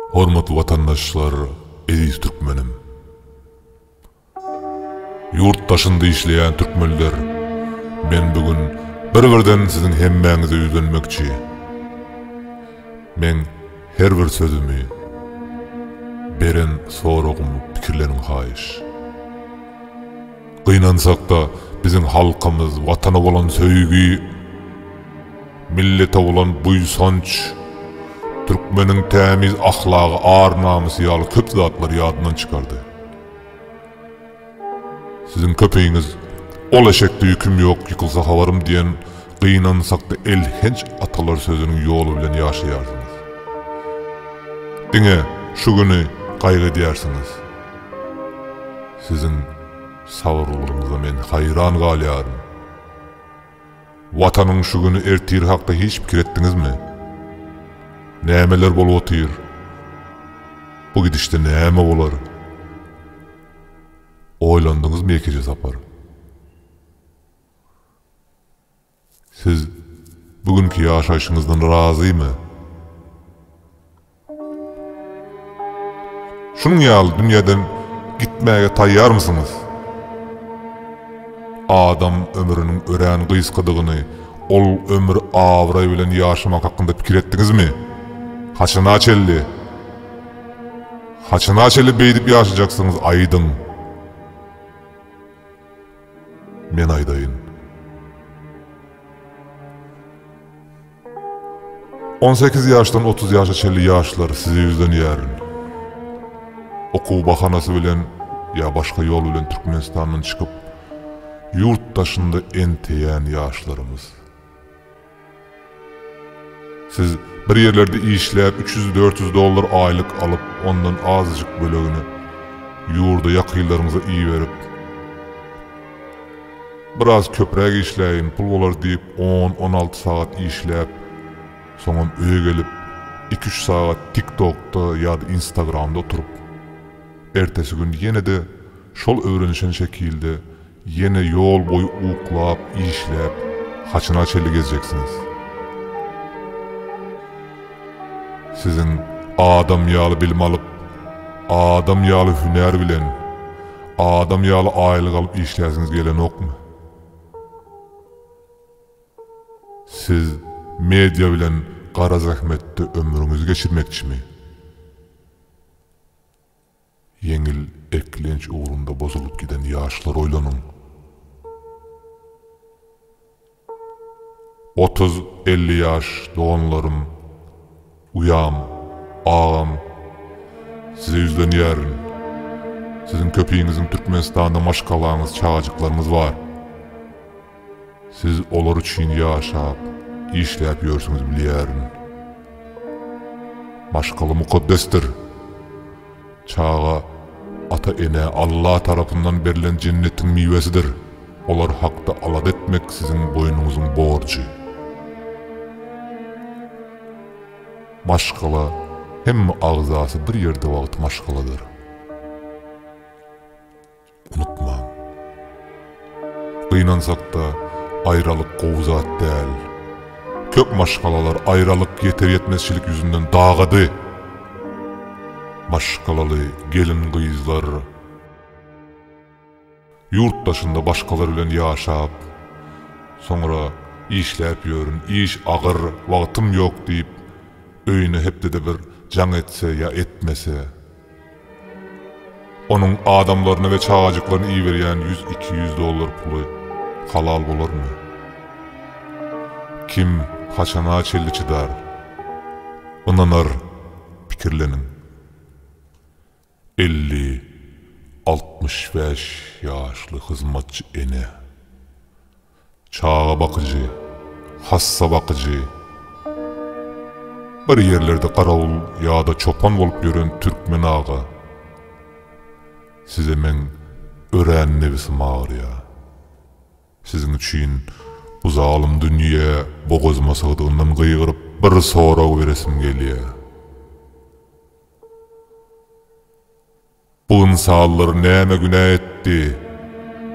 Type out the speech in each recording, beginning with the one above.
Hormatly watandaşlar, eziz türkmenim! Ýurt daşynda işleýän türkmenler, men bu gün bir-birden siziň hemmäňize ýüzlenmekçi. Meň her bir sözümi, beren soragymy pikirleniň haýyş. Gynansak-da, biziň halkymyz Watana bolan söýgi, millete bolan buýsanç, türkmeniň tämiz ahlagy, ar-namysy ýaly köp zatlary ýadyndan çykardy. Siziň köpiňiz Ol eşekde ýüküm ýok, ýykylsa habarym diýen gynansak-da elhenç atalar sözüniň ýoly bilen ýaşaýarsyňyz. Diňe şu güni gaýgy edýärsiňiz. Siziň sabyrlygyňyza men haýran galýaryn. Watanyň şu güni ertiri hakda hiç pikir etdiňizmi? Nämeler bolup otyr? Bu gidişde näme bolar? Oýlandyňyzmy Ýekeje Sapar? Siz bu günki ýaşaýşyňyzdan razymy? Şunuň ýaly dünýäden gitmäge taýýarmysyňyz? Adam ömrüniň örän gysgadygyny, ol ömür abraý bilen ýaşamak hakynda pikir etdiňizmi? Haçana çenli? Haçana çenli beýdip ýaşajaksyňyz, aýdyň! Men aýdaýyn. On sekiz ýaşdan otuz ýaşa çenli ýaşlar sizi ýüzlenýärin. Okuw bahanasy bilen ýa başga ýol bilen Türkmenistandan çykyp, ýurt daşynda enteýän ýaşlarymyz. Siz bir ýerlerde işläp üç ýüz dört ýüz dollar aýlyk alyp ondan azajyk bölegini ýurda ýakynlaryňyza iberip biraz köpräk işläýin pul bolar diýip on on alty sagat işläp soňam öýe gelip iki üç sagat tik tokda ýada instagramda oturyp ertesi gün ýenede şol öwrenişen şekilde Ýene ýol boýy uklap, işläp, haçana çenli gezjeksiňiz? Siziň adam ýaly bilim alyp, adam ýaly hünär bilen, adam ýaly aýlyk alyp işläsiňiz gelenokmy? Siz media bilen gara zähmetde ömrüňizi geçirmekçimi? Ýeňil eklenç ugrunda bozulyp giden ýaşlar oýlanyň. Otuz, elli ýaş doganlarym, uýam, agam, size ýüzlenýärin. Siziň köpiňiziň Türkmenistanda maşgalaňyz, çagajyklaryňyz bar. Siz olar üçin ýaşap, işläp ýörsüňiz bilýärin. Maşgala mukaddesdir. Çaga ata-enä Alla tarapyndan berlen jennetiň miwesidir. Olar hakda alada etmek siziň boýnuňyzyň borjy. Maşgala hemme agzasy bir ýerde wagty maşgaladyr. unutmaň. Gynansakda aýralyk gowy zat däl. Köp maşgalalar aýralyk ýeter-ýetmezçilik ýüzünden dagady. Maşgalaly gelin-gyzlar ýurt daşynda başgalar bilen ýaşap, soňra işläp ýörün, iş agyr, wagtym ýok diýip, öýüne hepdede bir jaň etse ýa etmese, Onuň adamlaryny we çagajyklaryny iberýän ýüz-iki ýüz dollar puly halal bolarmy? Kim haçana çenli çydar? Ynanar, pikirleniň. Elli, altmyş bäş ýaşly hyzmatçy ene. Çaga bakyjy, hassa bakyjy, bir ýerlerde garawul ýa-da çopan bolup ýören türkmen aga, size meň örän nebisim agyrýar. Siziň üçin bu zalym dünýä bogazyma sygdygyndan gygyryp, bir sorag beresim gelýär. Bu ynsanlar näme günä etdi,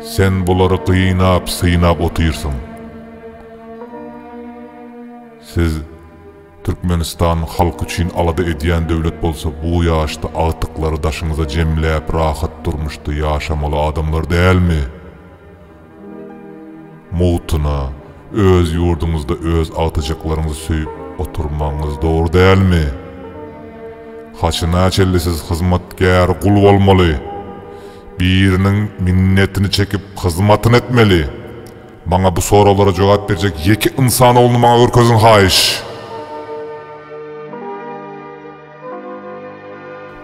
Sen bulary gynap-synap otyrsyň? Siz Türkmenistan halk üçin alada edýän döwlet bolsa bu ýaşda agtyklary daşyňyza jemläp rahat durmuşda ýaşamaly adamlar dälmi? Mugtuna, öz ýurduňyzda öz agtyjaklaryňyzy söýüp oturmagyňyz dogry dälmi? Haçanäçelli siz hyzmatkär gul bolmaly? Biriniň minnetini çekip hyzmatyny etmeli? Maňa bu soraglara jogap berjek ýeke ynsan ogluny maňa görkeziň haýyş!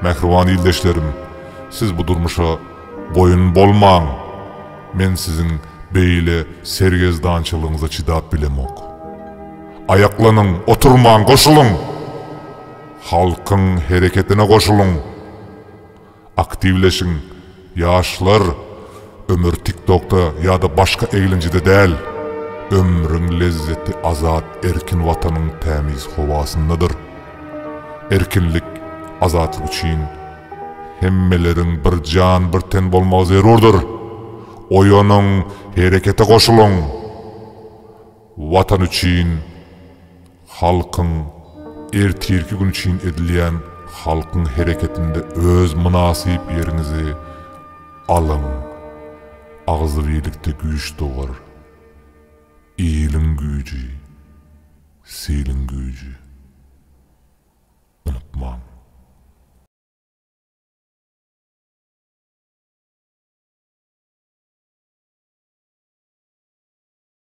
Mähriban ildeşlerim, siz bu durmuşa boýun bolmaň! Men siziň beýle sergezdançylygyňyza çydap bilemok. Aýaklanyň, oturmaň, goşulyň! Halkyň hereketine goşulyň! Aktiwleşiň ýaşlar ömür tiktokda ýada başga eglenjide däl ömrüň lezzeti azat erkin watanyň tämiz howasyndadyr erkinlik azatlyk üçin hemmeleriň bir jan bir ten bolmagy zerurdyr oýanyň herekete goşulyň. Watan üçin, halkyň ertirki gün üçin edilýän halkyň hereketinde öz mynasyp ýeriňizi alyň. Agzybirlikde güýç dogar. Iliň güýji, siliň güýji. Unutmaň.